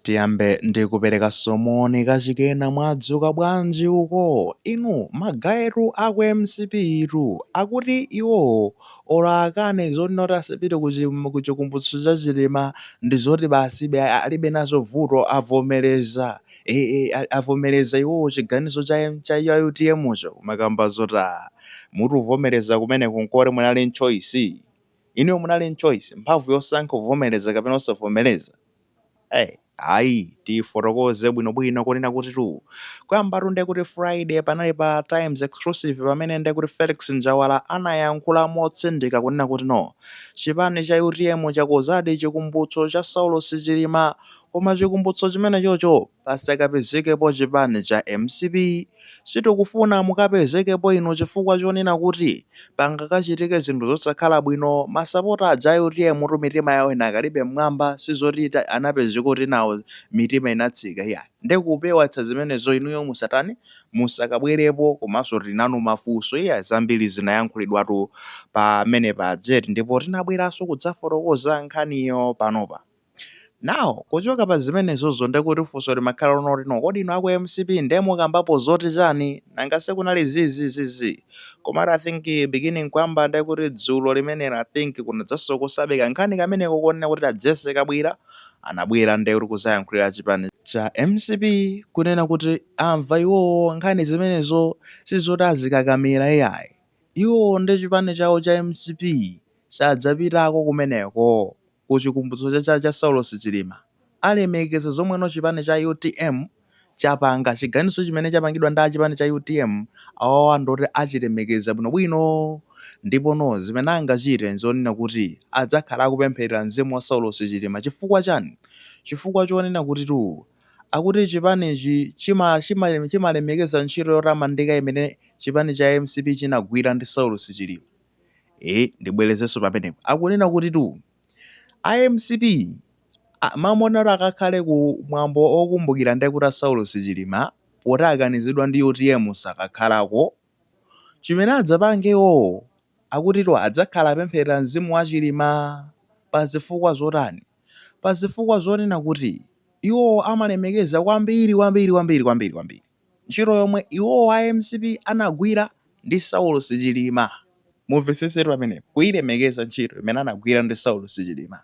Tiyambe ndi kuperekanso moni kachikena mwadzuka bwanji uko inu ma guy-tu aku mcp tu akuti iwowo or akane zoti not asapite ku chi ku chikumbutso cha chilima ndi zoti basibe alibe nazo vuto avomereza ee avomereza iwowo chiganizo cha cha utm cho kumakamba zoti aa muti kuvomereza kumeneko nkoti munali ndi choice inuyo munali ndi choice mphamvu yosankha kuvomereza kapena osavomereza Eyi, ayi tifotokoze bwinobwino kunena kutitu kuyambatu nde kuti Friday panali pa Times Exclusive pamene nde kuti Felix Njawala anayankhula motsindika kunena kuti no chipani cha UTM chakonzadi chikumbutso cha Saulos Chilima koma chikumbutso chimenechocho pasakapezekepo chipani cha mcp sitikufuna mukapezekepo inu chifukwa chonena kuti pangakachitike zinthu zosakhala bwino masapota aja a utm tu mitima yawo inakalibe mmwamba sizoti anapezeka kuti nawo mitima inatsika iyayi nde kupewatsa zimenezo inuyo musatani musakabwerepo komanso tinanu mafunso iyayi zambiri zinayankhulidwatu pamenepa jet ndipo tinabweranso kudzafotokoza nkhaniyo panopa Now kuchoka pa zimenezozo nde kuti funso limakhala lonoti no kodi inu a ku mcp nde mukambapo zoti chani nanga sikunali zi zi zi zi komatu I think beginning kuyamba nde kuti dzulo limenelo I think kunadzanso kusabeka nkhani kameneko kunena kuti a Jessie Kabwila anabwera nde kuti kuzayankhulira chipani cha mcp kunena kuti amva iwowo nkhani zimenezo sizoti azikakamira iyayi iwowo ndi chipani chawo cha mcp sadzapitako kumeneko ku chikumbutso cha cha cha Saulos Chilima alemekeza zomweno chipani cha utm chapanga chiganizo chimene chapangidwa ndi chipani cha utm awawa ndoti achilemekeza bwinobwino ndipo no zimene angachite nzonena kuti adzakhala akupempherera mzimu wa Saulos Chilima chifukwa chani chifukwa chonena kutitu akuti chipanichi chima chima chimalemekeza ntchito yotamandika imene chipani cha mcp chinagwira ndi Saulos Chilima Eh, ndibwerezenso pamenepo. Akunena kutitu a mcp amaona kuti akakhale ku mwambo okumbukira ndiye kuti a Saulos Chilima poti akanizidwa ndi utm sakakhalako. Chimene adzapange iwowo akutitu adzakhala apempherera mzimu wa Chilima pa zifukwa zotani? Pa zifukwa zonena kuti iwowo amalemekeza kwambiri kwambiri kwambiri kwambiri kwambiri. Ntchito yomwe iwowo a mcp anagwira ndi Saulos Chilima mumvetsetsetu pamenepa, kuilemekeza ntchito imene anagwira ndi Saulos Chilima.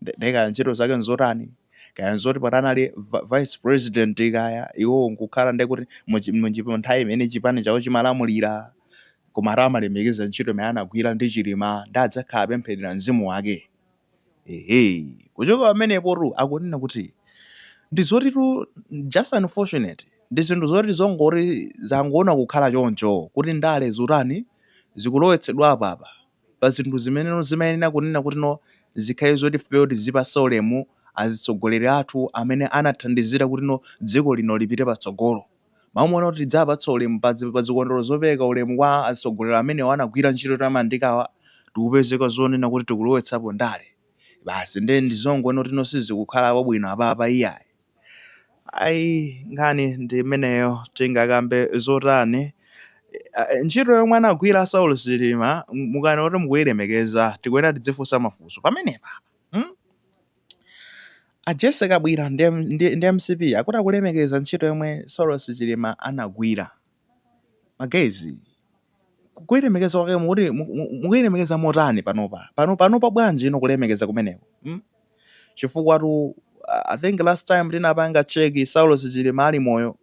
Nde kaya ntchito zake nzotani, kaya nzoti poti anali vice president kaya iwowo nkukhala ndekuti mu nthawi imene chipani chawo chimalamulira. Koma ati amalemekeza ntchito imene anagwira ndi Chilima nde adzakhala apempherera mzimu wake. Ehe, kuchoka pamenepotu akunena kuti ndi zotitu just unfortunate, ndi zinthu zoti zongoti zangoona kukhala choncho kuti ndale zikutani, zikulowetsedwa apa pa zinthu zimeneno zimayenera kunena kutino zikhale zoti ifeyo tizipatsa ulemu azitsogoleri athu amene anathandizira kutino dziko lino lipite patsogolo. Mmaona kuti tidzapatsa ulemu pa pa zikondwerero zopereka ulemu kwa atsogoleri amenewa anagwira ntchito yotamandikawa tikupezeka zonena kuti tikulowetsapo ndale basi nde ndi zongoona kuti no sizikukhala bwino apapa iyayi ayi nkhani ndi imeneyo tingakambe zotani Eh, eh, ntchito yomwe anagwira Saulos Chilima mukanena kuti mukuyilemekeza tikuyenera tidzifunsa mafunso pamenepa hmm? A Jessy Kabwira ndi, ndi, ndi mcp akuti akulemekeza ntchito yomwe Saulos Chilima anagwira. Ma guys kuilemekeza kwake mukuti mukuilemekeza motani panopa? Pano panopa bwanji ino kulemekeza kumeneko? Hmm? Chifukwatu I think last time tinapanga cheki Saulos Chilima ali moyo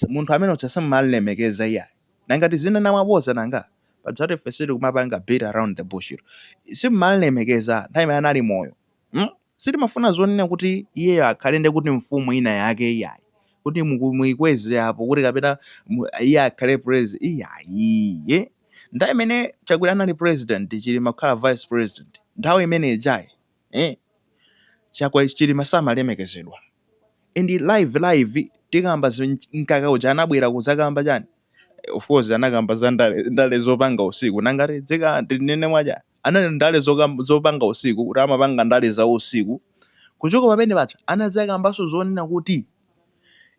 munthu amene uja simumamulemekeza iyayi. Nanga tizinena mwaboza nanga? Pajatu ife sitikumapanga beat around the bush tu. Simumamulemekeza nthawi imene anali moyo. Hmm? Sitimafuna zonena kuti iyeyo akhale nde kuti mfumu ina yake iyayi. Kuti muku- muikweze apo kuti kapena mu- iye akhale president iyayi. eh? Nthawi imene Chakwera anali president, Chilima kukhala vice president. Nthawi imene ijayi eh? chakwa chilima samalemekezedwa and live live tikamba zi- mkaka uja anabwera kuzakamba chani Eh, of course anakamba za ndale, ndale zopanga usiku nanga tizikati nene mwaja ananena ndale zokam- zopanga usiku kuti amapanga ndale za usiku kuchoka pamene paja anazakambanso zonena kuti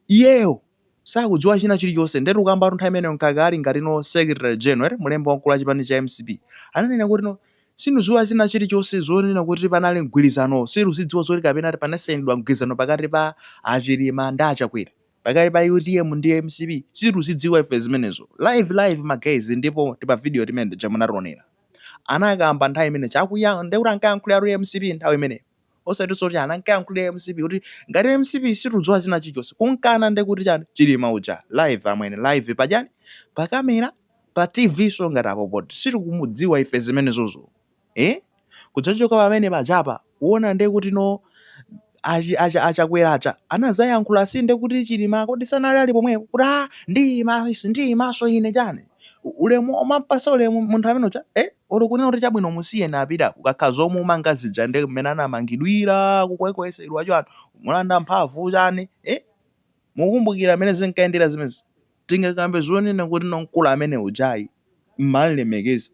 iyeyo sakudziwa china chilichonse ndetu kambatu nthawi imeneyo mkaka ali ngati no secretary general eti mulembi wamkulu wa chipani cha mcp ananena kuti no sitikudziwa china chilichonse zonena kuti panali mgwilizanowo sitikuzidziwa zoti kapena ati panasainidwa mgwilizano pakati pa a chilima ndi a chakwera pakati pa utm ndi mcp sitikuzidziwa ife zimenezo live live ma guys ndipo tima video timene tija munationera anakamba nthawi imeneja akuyankhula ndekuti ankayankhuliratu mcp nthawi imeneyo osati zoti anankayankhulira mcp kuti ngati mcp sitikudziwa china chilichonse kumukana nde kuti chani chilima uja live amwene live pa chani pa camera pa tv so ngati apo poti sitikumudziwa ife zimenezozo eh kudzachoka pamene pajapa kuona nde kuti no achi- acha- achakwera aja anazayankhula si nde kuti chilima kodi sanali ali pomwepo kuti a ndiyimanso ndiyimanso ine chani U- ulemu omampasa ulemu munthu amene uja eh Olo kunena kuti chabwino musiyeni apita kukakhala zomumanga zija ndi mmene anamangidwira kukwekwesedwa chani kumulanda mphavu chani eh mukukumbukira mmene zinkayendera zimenezi tingakambe zonena kuti no mkulu amene uja ayi mmanlemekeza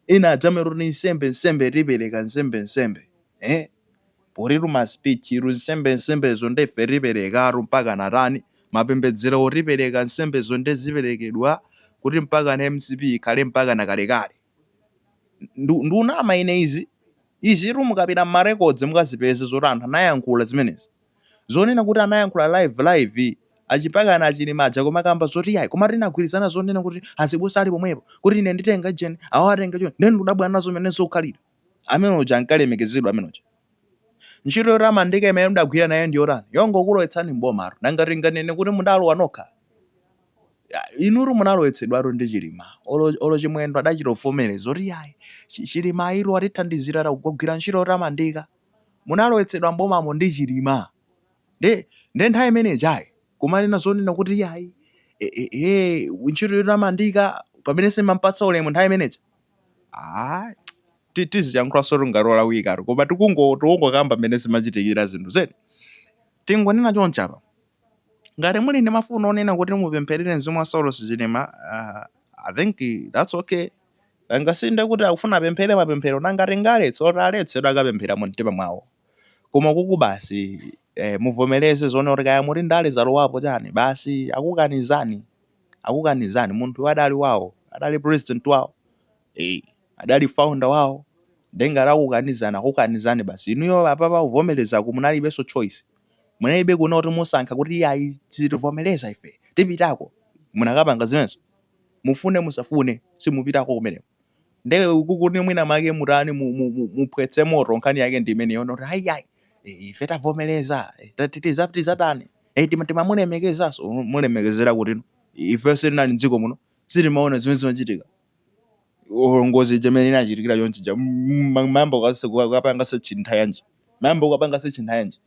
ena adzamero kuti nsembe nsembe tipereka nsembe nsembe eh Potitu ma speech-tu nsembe nsembezo nde ife tiperekatu mpaka natani mapembedzerowo tipereka nsembezo nde ziperekedwa kuti mpakana mcp ikhale mpakana kalekale ndikunama ine izi izitu mukapita mma records mukazipeze zoti anthu anayankhula zimenezi zonena kuti anayankhula live live achi- mpakana a Chilima aja kumakamba zoti yayi koma tinagwirizana zonena kuti azibusa ali pomwepo kuti ine nditenga ijeni awo atenga icho nde ndikudabwa nazo mmene zikukhalira amene uja ankalemekezedwa amene uja ntchito yotamandika imene mudagwira naye ndi yotani yongokulowetsani m'bomatu nanga tinganene kuti mudalowa nokha Ya, inutu munalowetsedwatu ndi Chilima olo olo Chimwendo adachita kuvomereza kuti yayi Chi- Chilima ayitu atithandizira tagwira ntchito yotamandika munalowetsedwa m'bomamo ndi Chilima nde nde nthawi imene ijayi kumanena zonena kuti yayi e, e, e, ntchito yotamandika pamene simampatsa ulemu nthawi imeneja ah ti- tiziyankhulanso ngati olawikatu koma tikungo- tikungokamba mmene zimachitikira zinthu zedi tingonena chonchi apa ngati muli ndi mafuno onena kuti mupempherere mzimu wa Saulos Chilima ah, I think that's okay angasinde kuti akufuna apemphere mapemphero nanga tingaletse oti aletsedwe akapemphera mu mtima mwawo koma ukuku basi eh, muvomereze zonena kuti kaya muti ndale zalowapo chani basi akukanizani akukanizani munthuyo adali wawo adali president wawo eh, adali founder wawo nde ngati akukanizani akukanizani basi inuyo apapa kuvomerezako munalibenso choice munalibe kunena kuti musankha kuti iyayi sitivomereza ife tipitako munakapanga zimenezo mufune musafune simupitako kumeneko nde kuti mwina make mutani mu- mu- mu- muphwetse moto nkhani yake ndi imeneyo ndi ayi yayi ife tavomereza eh, ta- ti- tiza- tizatani Eh, tima- timamulemekezaso Mu- mulemekezera kuti no ife sitinali mdziko muno sitimaona zimene zimachitika Olo ngozi ija mmene inachitikira chonchi ija mwayamba kukapanga search nthawi yanji mwayamba kukapanga search nthawi yanji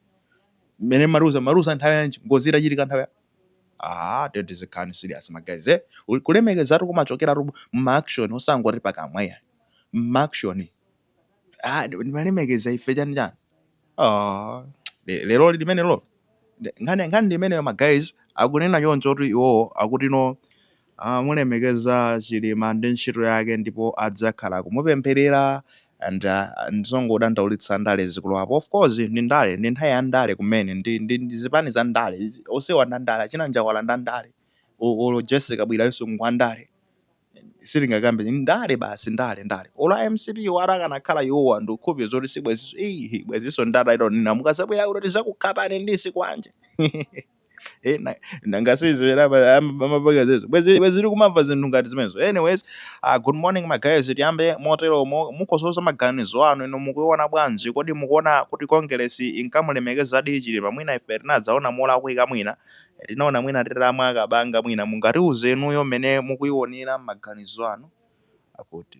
mmene mwauza mwauza nthawi yanji ngozi itachitika nthawi ya- Aaa tiyeni tizikhala serious ma guys eh, kulemekezatu kumachokeratu mma action osangoti pakamwa iyayi, mma action ah ndimalemekeza ife chani chani ah le- lero limene lo Nde- nkhani nkhani ndi imeneyo ma guys akunena choncho kuti iwowo akuti no Amamulemekeza chilima ndi ntchito yake ndipo adzakhala akumupemphelera and ndizongodandaulitsa ndale zikulowapo of course ndi ndale ndi nthawi ya ndale kumene ndi ndi ndi zipani za ndale izi onsewa ndi andale achina njawala ndi andale o- olo jesse kabwila yense ngwandale silingakambe ndi ndale basi ndale ndale olo a mcp wo atakanakhala iwowa ndikukhulupirira zoti sibwenziso iyi bwenziso ndale zonena mukazabwera kuno tizakukhapani ndi zikwanje Eh, na- nanga sizivera apa- am- amapanga zizo bwezi bwezi tiri kumamva zinthu ngati zimenezo anyways uh, good morning magayizi tiyambe motero mo- mukhoza maganizo anu ino mukuiona bwanji kodi mukuona kuti kongeresi inkamulemekezadi chilima mwina ife tinadzaona molakwika mwina Eh, tinaona mwina titamwa kabanga mwina mungatiuze inuyo mmene mukuionera maganizo anu akuti